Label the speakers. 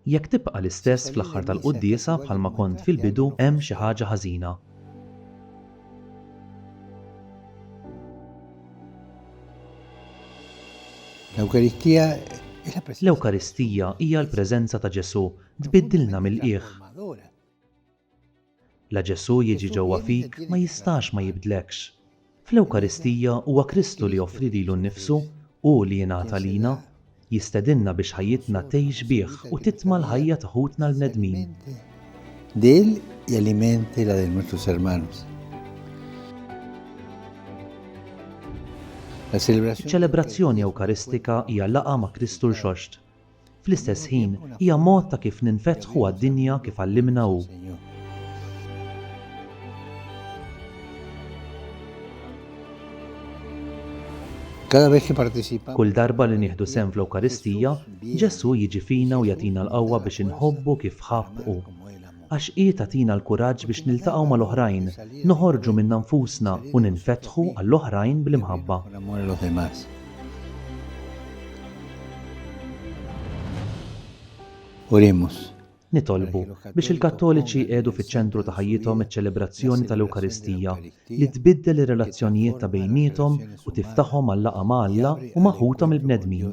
Speaker 1: Jekk tibqa' l-istess fl-aħħar tal-quddiesa bħalma kont fil-bidu hemm xi ħaġa ħażina. L-Ewkaristija L-Ewkaristija hija l-preżenza ta' Ġesù tbiddilna mill-qiegħ. La Ġesù jiġi ġewwa fik ma jistax ma jibdlekx. Fl-Ewkaristija huwa Kristu li joffri lilu nnifsu, hu li jingħata lina. Jistedinna biex ħajjitna tgħix bih u titma' l-ħajja ta' ħutna l-bnedmin.
Speaker 2: Dil hija l-imenti la de nuestros hermanos.
Speaker 1: Iċ-ċelebrazzjoni Ewkaristika hija laqgħa ma' Kristu rxoxt, Fl-istess ħin, hija mod ta' kif ninfetħu għad-dinja kif għallimna hu. Kull darba li nieħdu sehem fl-Ewkaristija, Ġesù jiġi fina u jagħtina l-qawwa biex inħobbu kif ħabb hu. għax hi tagħtina l-kuraġġ biex niltaqgħu mal-oħrajn, noħorġu minna nfusna u ninfetħu għall-oħrajn bl-imħabba. Oremus. Nitolbu biex il-Kattoliċi jqiegħdu fiċ-ċentru ta' ħajjithom iċ-ċelebrazzjoni tal-Ewkaristija li tbiddel ir-relazzjonijiet ta' bejniethom u tiftaħhom għal-laqgħa ma' Alla u ma' ħuthom il-bnedmin.